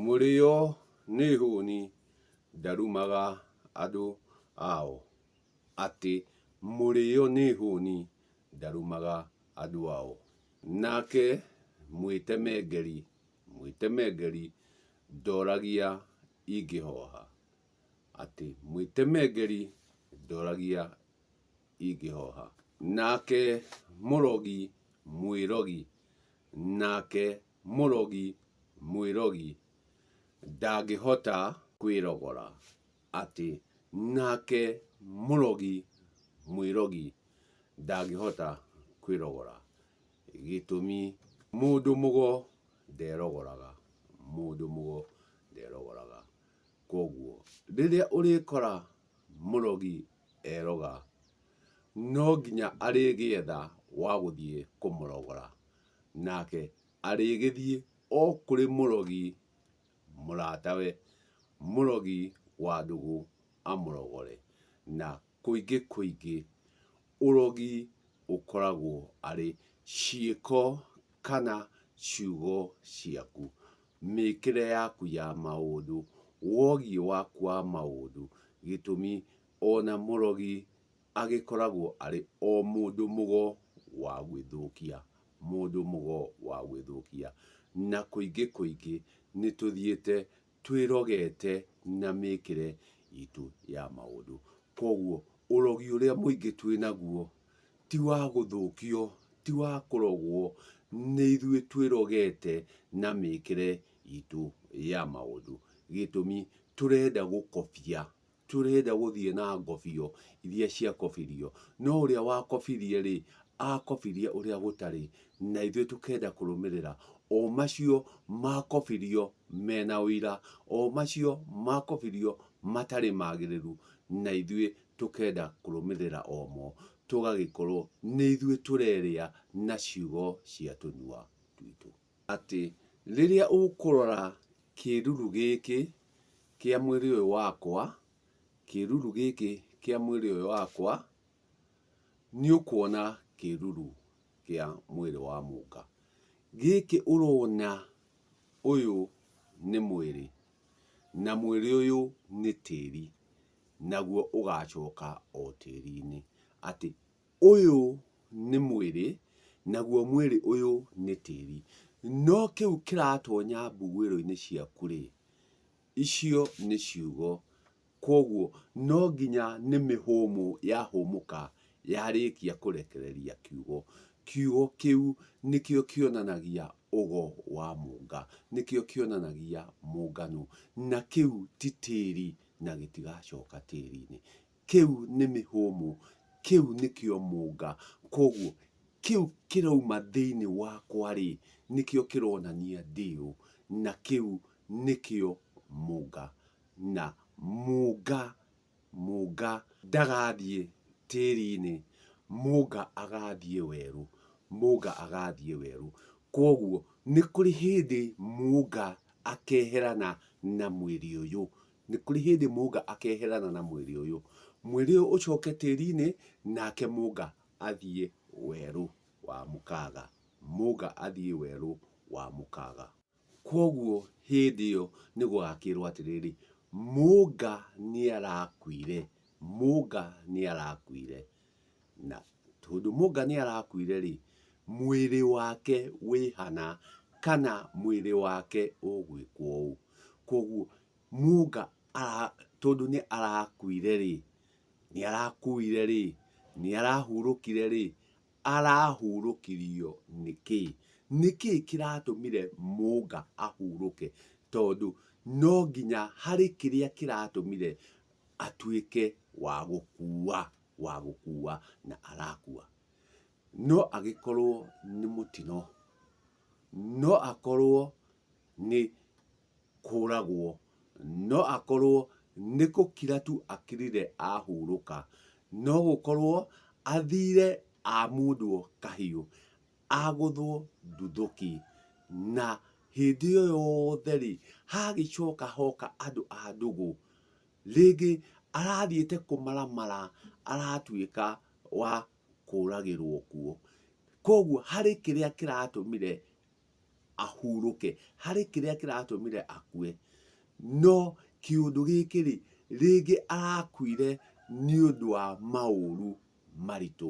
Mũrĩo nĩ hũni ndarumaga andũ ao. Atĩ mũrĩo nĩ hũni ndarumaga andũ ao. Nake mwĩtemengeri, mwĩtemengeri ndoragia ingĩhoha. Atĩ mwĩtemengeri ndoragia ingĩhoha. Nake mũrogi, mwĩrogi nake Mũrogi mwĩrogi ndangĩhota kwĩrogora atĩ nake mũrogi mwĩrogi ndangĩhota kwĩrogora gĩtũmi mũndũ mũgo nderogoraga, mũndũ mũgo nderogoraga. Kwoguo rĩrĩa ũrĩkora mũrogi eroga no nginya arĩgĩetha wa gũthiĩ kũmũrogora. Nake arĩgĩthiĩ o kũrĩ mũrogi mũratawe, mũrogi wa ndũgũ, amũrogore. Na kũingĩ kũingĩ ũrogi ũkoragwo arĩ ciĩko kana ciugo ciaku, mĩkĩre yaku ya maũndũ, wogiĩ waku wa maũndũ, gĩtũmi ona mũrogi agĩkoragwo arĩ o mũndũ mũgo wa gwĩthũkia, mũndũ mũgo wa gwĩthũkia. Na kũingĩ kũingĩ nĩ tũthiĩte twĩrogete na mĩkĩre itũ ya maũndũ. Koguo ũrogi ũrĩa mũingĩ twĩ naguo ti wa gũthũkio, ti wa kũrogwo, nĩ ithuĩ twĩrogete na mĩkĩre itũ ya maũndũ. Gĩtũmi, tũrenda gũkobia. Tũrenda gũthiĩ na ngobio iria ciakobirio, no ũrĩa wakobirie-rĩ, aakobirie ũrĩa gũtarĩ, na ithuĩ tũkenda kũrũmĩrĩra o macio maakobirio me na ũira, o macio maakobirio matarĩ magĩrĩru, na ithuĩ tũkenda kũrũmĩrĩra o mo, tũgagĩkorwo nĩ ithuĩ tũrerĩa na ciugo cia tũnua twitũ. atĩ rĩrĩa ũkũrora kĩruru gĩkĩ kĩa mwĩrĩ ũyũ wakwa, kĩruru gĩkĩ kĩa mwĩrĩ ũyũ wakwa, nĩ ũkuona kĩruru kĩa mwĩrĩ wa mũka. Gĩkĩ ũrona ũyũ nĩ mwĩrĩ, na mwĩrĩ ũyũ nĩ tĩri, naguo ũgacoka o tĩri-inĩ. Atĩ ũyũ nĩ mwĩrĩ, naguo mwĩrĩ ũyũ nĩ tĩri. No kĩu kĩratonya mbuguĩro-inĩ ciaku rĩ, icio nĩ ciugo. Kwoguo no nginya nĩ mĩhũmũ yahũmũka yarĩkia kũrekereria kiugo. Kiugo kĩu nĩkĩo kĩonanagia ũgo wa mũnga, nĩkĩo kĩonanagia mũngano. Na kĩu ti tĩri na gĩtigacoka tĩri-inĩ. Kĩu nĩ mĩhũmũ. Kĩu nĩkĩo mũnga. Kwoguo, kĩu kĩroima thĩinĩ wakwa-rĩ, nĩkĩo kĩronania ndĩ ũ, na kĩu nĩkĩo mũnga. Na mũnga, mũnga ndagathiĩ tĩri-inĩ, mũnga agathiĩ werũ, mũnga agathiĩ werũ. Kwoguo, nĩ kũrĩ hĩndĩ mũnga akeherana na mwĩrĩ ũyũ, Nĩ kũrĩ hĩndĩ mũnga akeherana na mwĩrĩ ũyũ, mwĩrĩ ũyũ ũcoke tĩri-inĩ, nake mũnga athiĩ werũ wa mũkaga. Mũnga athiĩ werũ wa mũkaga. Kwoguo hĩndĩ ĩyo nĩ gũgakĩrwo atĩrĩrĩ, mũnga nĩ arakuire, mũnga nĩ arakuire. Na tondũ Mũnga nĩ arakuire rĩ, mwĩrĩ wake wĩ hana kana mwĩrĩ wake ũgwĩkwo ũũ. Kwoguo Mũnga tondũ nĩ arakuire rĩ, nĩ arakuire rĩ, nĩ arahurũkire rĩ, arahurũkirio nĩ kĩĩ? Nĩ kĩĩ kĩratũmire Mũnga ahurũke? Tondũ no nginya harĩ kĩrĩa kĩratũmire atuĩke wa gũkuua, wa gũkuua na arakuua. No agĩkorwo nĩ mũtino, no akorwo nĩ kũragwo, no akorwo nĩ gũkira tu akirire ahurũka, no gũkorwo athire amundwo kahiũ, agũthwo nduthũki. Na hĩndĩ ĩyo yothe-rĩ, hagĩcoka hoka andũ a ndũgũ, rĩngĩ arathiĩte kũmaramara aratuĩka wa kũragĩrwo kuo. Koguo harĩ kĩrĩa kĩratũmire ahurũke, harĩ kĩrĩa kĩratũmire akue, no kĩũndũ gĩkĩ-rĩ, rĩngĩ arakuire nĩ ũndũ wa maũru maritũ,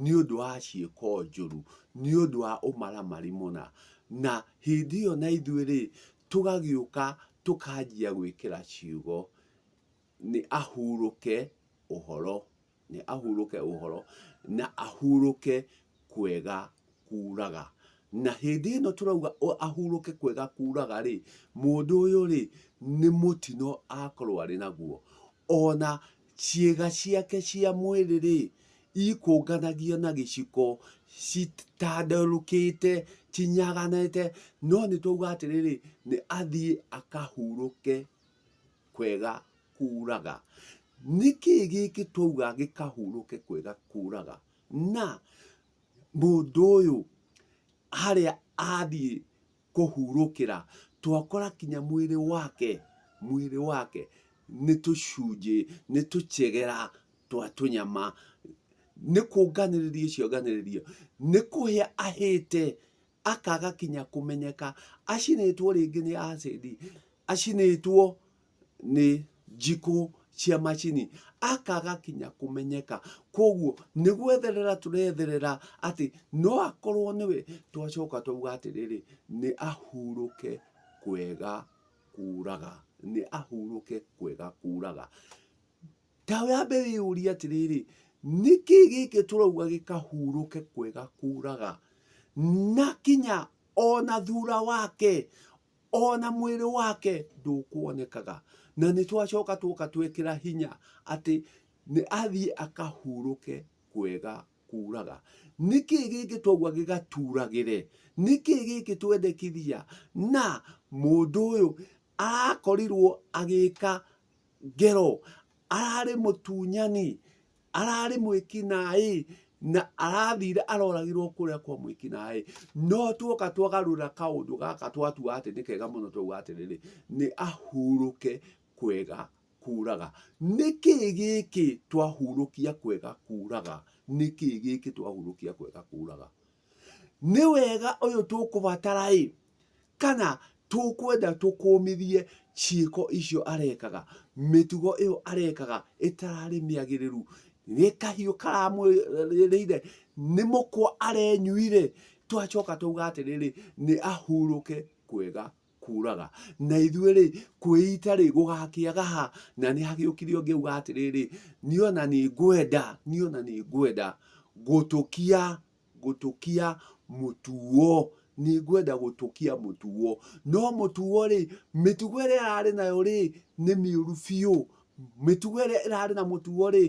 nĩ ũndũ wa ciĩko njũru, nĩ ũndũ wa ũmaramari mũna. Na hĩndĩ ĩyo na ithuĩ-rĩ, tũgagĩũka tũkanjia gwĩkĩra ciugo, nĩ ahurũke ũhoro, nĩ ahurũke ũhoro, na ahurũke kwega kuraga. Na hĩndĩ ĩno tũrauga ahurũke kwega kuraga rĩ, mũndũ ũyũ rĩ, nĩ mũtino akorwo arĩ naguo. Ona ciĩga ciake cia mwĩrĩ rĩ, ikũnganagia na gĩciko citanderũkĩte, cinyaganĩte, no nĩ twauga atĩrĩrĩ, nĩ athiĩ akahurũke kwega kuraga. Nĩkĩ gĩkĩ twauga gĩkahurũke kwega kuraga? Na mũndũ ũyũ harĩa athiĩ kũhurũkĩra, twakora kinya mwĩrĩ wake, mwĩrĩ wake nĩ tũcunjĩ, nĩ tũchegera twa tũnyama. Nĩ kũnganĩrĩria cionganĩrĩria, nĩ kũhĩa ahĩte akaga kinya kũmenyeka acinĩtwo rĩngĩ nĩ acidi acinĩtwo nĩ njikũ cia macini akaga kinya kũmenyeka koguo nĩ gwetherera tũretherera atĩ no akorwo nĩwe twacoka twauga atĩrĩrĩ nĩ ahurũke kwega kuraga nĩ ahurũke kwega kuraga. Ta wambe wĩyũrie atĩrĩrĩ, nĩkĩ gĩkĩ tũrauga gĩkahurũke kwega kuraga? Na kinya ona thura wake, ona mwĩrĩ wake ndũkuonekaga. Na nĩ twacoka tuoka twekĩra hinya atĩ nĩ athiĩ akahurũke kwega kuraga. Nĩkĩ gĩkĩ twauga gĩgaturagĩre? Nĩkĩ gĩkĩ twendekithia? Na mũndũ ũyũ arakorirwo agĩka ngero, ararĩ mũtunyani, ararĩ mwĩkinaĩ, na arathire aroragirwo kũrĩa kwa mwĩkinaĩ. No tuoka twagarũra kaũndũ gaka twatua atĩ nĩ kega mũno twauga atĩrĩrĩ, nĩ ahurũke kwega kuraga. Nĩ kĩĩ gĩkĩ twahurũkia kwega kuraga? Nĩ kĩĩ gĩkĩ twahurũkia kwega kuraga? nĩ wega ũyũ tũkũbatara-ĩ, kana tũkwenda tũkũmithie ciĩko icio arekaga, mĩtugo ĩyo arekaga ĩtararĩ mĩagĩrĩru, nĩ kahiũ karamũrĩire, nĩ mũkwa arenyuire, tũgacoka twauga atĩrĩrĩ, nĩ ahurũke kwega. kuraga na ithuĩ rĩ kwĩita rĩ gũgakĩaga ha na nĩ hagĩũkire ũngĩ uga atĩrĩrĩ niĩ ona nĩ ngwenda niĩ ona nĩ ngwenda gũtũkia gũtũkia mũtuo nĩ ngwenda gũtũkia mũtuo no mũtuo rĩ mĩtugo ĩrĩa ararĩ nayo rĩ nĩ mĩũru biũ mĩtugo ĩrĩa ĩrarĩ na mũtuo rĩ.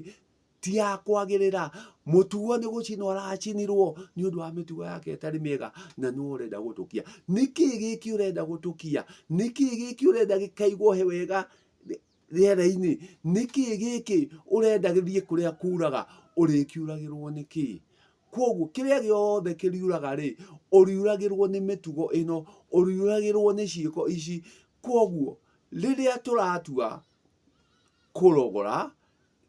ti ya kwagĩrĩra mũtuo nĩ gũcinwo aracinirwo nĩ ũndũ wa mĩtugo yake ĩtarĩ mĩega na nĩ ũrenda gũtũkia nĩkĩ gĩkĩ ũrenda gũtũkia nĩkĩ gĩkĩ ũrenda gĩkaigwo he wega rĩera-inĩ nĩkĩ gĩkĩ ũrenda gĩthiĩ kũrĩa kuraga ũrĩkiuragĩrwo nĩkĩ koguo kĩrĩa gĩothe kĩriuraga rĩ ũriuragĩrwo nĩ mĩtugo ĩno ũriuragĩrwo nĩ ciĩko ici koguo rĩrĩa tũratua kũrogora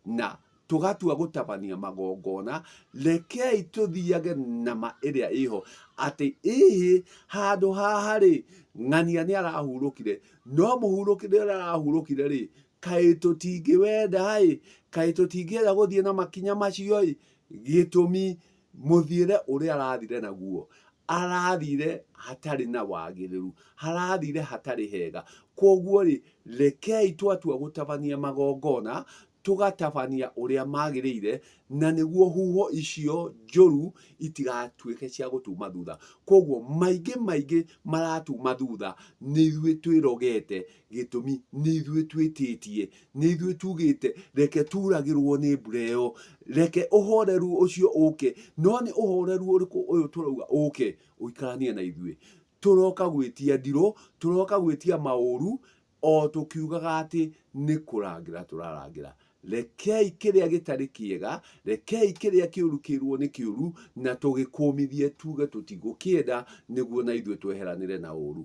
na tũgatua gũtabania magongona, rekei tũthiage na ma ĩrĩa ĩho, atĩ ĩhĩ handũ haha-rĩ, ng'ania nĩ arahurũkire, no mũhurũkĩre ũrĩa arahurũkire-rĩ, kaĩ tũtingĩwenda-ĩ, kaĩ tũtingĩenda gũthiĩ na makinya macio-ĩ, gĩtũmi mũthiĩre ũrĩa arathire naguo, arathire hatarĩ na wagĩrĩru, arathire hatarĩ hega. Koguo-rĩ, rekei twatua gũtabania magongona, tũgatabania ũrĩa magĩrĩire, na nĩguo huho icio njũru itigatuĩke cia gũtuma thutha. Koguo, maingĩ maingĩ maratuma thutha nĩ ithuĩ twĩrogete Gĩtũmi, nĩ ithuĩ twĩtĩtie, nĩ ithuĩ tuugĩte, Reke tuuragĩrũo nĩ mbura ĩyo. Reke ũhoreru ũcio ũũke. No nĩ ũhoreru ũrĩkũ ũyũ tũrauga ũũke ũikaranie na ithuĩ? Tũroka gwĩtia ndirũ, tũroka gwĩtia maũru, o tũkiugaga atĩ nĩ kũrangĩra tũrarangĩra. Rekei kĩrĩa gĩtarĩ kĩega, rekei kĩrĩa kĩũru kĩĩrũo nĩ kĩũru, na tũgĩkũmithie tuuge tũtigũkĩenda, nĩguo na ithuĩ tweheranĩre na ũũru.